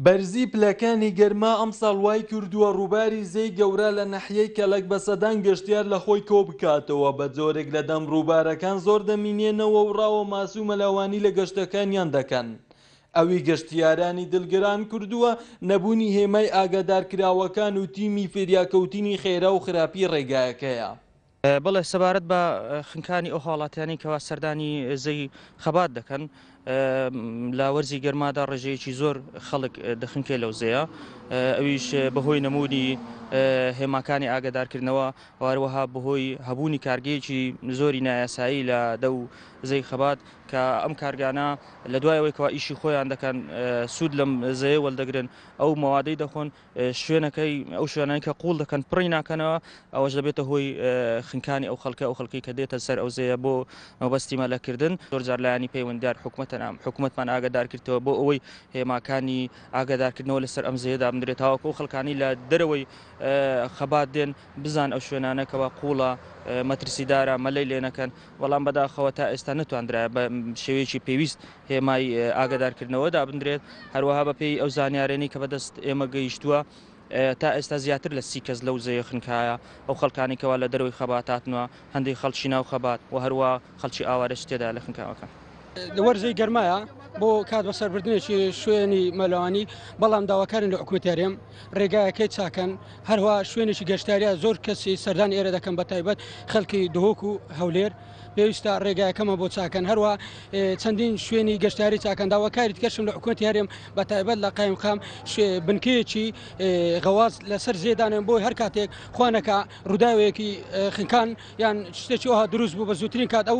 بەرزی پلەکانی گەرما ئەمساڵ وایکردووە ڕووباری زێی گەورە لە ناحیەی کەلەک بە سەدان گەشتیار لە خۆی کۆبکاتەوە، بە جۆرێک لە دەم ڕووبارەکان زۆر دەمینێنەوە و ڕاوە ماسی و مەلەوانی لە گەشتەکانیان دەکەن. ئەوی گەشتیارانی دڵگران کردووە نەبوونی هێمای ئاگادارکراوەکان و تیمی فریاکەوتنی خێرا و خراپی ڕێگایەکەیە. بەڵێ سەبارەت بە خنکانی ئەو هاوڵاتیانی کەوا سەردانی زەوی خەبات دەکەن لە وەرزی گەرمادا ڕێژەیەکی زۆر خەڵک دەخنکێ لەو زەیە ئەویش بەهۆی نمودی هێماکانی ئاگدارکردنەوە واروەها بەهۆی هەبوونی کارگەیەکی زۆری نایاسایی لە دە و زەی خەبات کە ئەم کارگانە لە دوایەوەیکەوە ئیشی خۆیان دەکەن سوود لەم زەیە وەلدەگرن ئەو مەوادەی دەخۆن شوێنەکەی ئەو شوێنانی کە قوڵ دەکەن پڕی ناکەنەوە ئەوەش دەبێتە هۆی خنکانی ئەو خەڵکە ئەو خەڵکی کە دێتە سەر ئەوزەیە بۆ مەبەستی مەلەکردن زۆرجار لایانی پەیوەندار حکوومەتە نام حکوومەتمان ئاگدارکردەوە بۆ ئەوەی هێماکانی ئاگدارکردنەوە لەسەر ئەم زێدا بنرێت تاواکو ئەو خەڵکانی لە دەرەوەی خەبات دێن بزان ئەو شوێنانە کەوا قوڵە مەترسیدارە مەلەی لێ نەکەن بەڵام بەداخەوە تا ئێستا نەتواندرایە بە شێوەیەکی پێویست هێمای ئاگدارکردنەوە دابدرێت هەروەها بە پێی ئەو زانیارێنی کە بەدەست ئێمە گەیشتووە تا ئێستا زیاتر لە سی کەس لەو زەیە خنکایە ئەو خەڵکانی کەوا لە دەرەوەی خەباتاتنوە هەندی خەڵکی ناو خەبات و هەروە خەڵکی ئاوارەش تێدا لە خنکاوەکان. لە وەرزەی گەرمایە بۆ کات بەسەربردنێکی شوێنی مەلوانی بەڵام داواکارن لە حکوتێرێم ڕێگایەکەی چاکەن هەروە شوێنێکی گەشتاریە زۆر کەسی سەردان ئێرە دەکەم بە تایبەت خەڵکی دهۆک و هەولێر پێویستە ڕێگایەکەمە بۆ چاکەن هەروە چەندین شوێنی گەشتاری چاکەن داواکاری کەشم لە حکوەتی هەرێم بە تایبەت لە قایم خام بنکەیەکی غەواز لەسەر زێدانن بۆی هەر کاتێک خوانەکە ڕووداوێکی خنکان یان شتێکی وها دروست بوو بە زووترین کات ئەو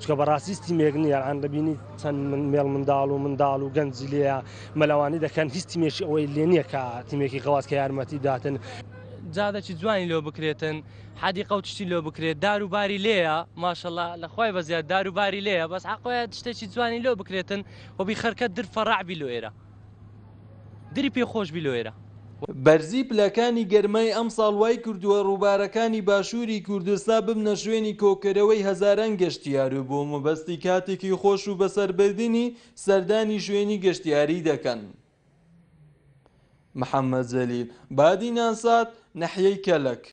چونکە بەڕاستی ستیمێک نیە ئەلان دەبینی چەند من مێڵ منداڵ و منداڵ و گەنجی لێە مەلەوانی دەکەن هیچ تیمێکی ئەوەی لێ نییە کە تیمێکی غەواز کە یارمەتی داتن جادەکی جوانی لۆ بکرێتن حەدی قەوتشتی لۆ بکرێت دار و باری لێە ماشەڵە لە خۆی بەزیاد دار و باری لێە بەس حقۆە شتێکی جوانی لۆ بکرێتن وەبی خەرکە در فەڕعبی لۆ ئێرە. دری پێ خۆش بی لۆیرە. بەرزی پلەکانی گەرمای ئەمساڵ وایکردووە ڕووبارەکانی باشووری کوردستا ببنە شوێنی کۆکەرەوەی هەزاران گەشتیار و بۆ مەبەستی کاتێکی خۆش و بەسەربردنی سەردانی شوێنی گەشتیاری دەکەن. محەمەد جەلیل بادینان سات، ناحیەی کەلەک.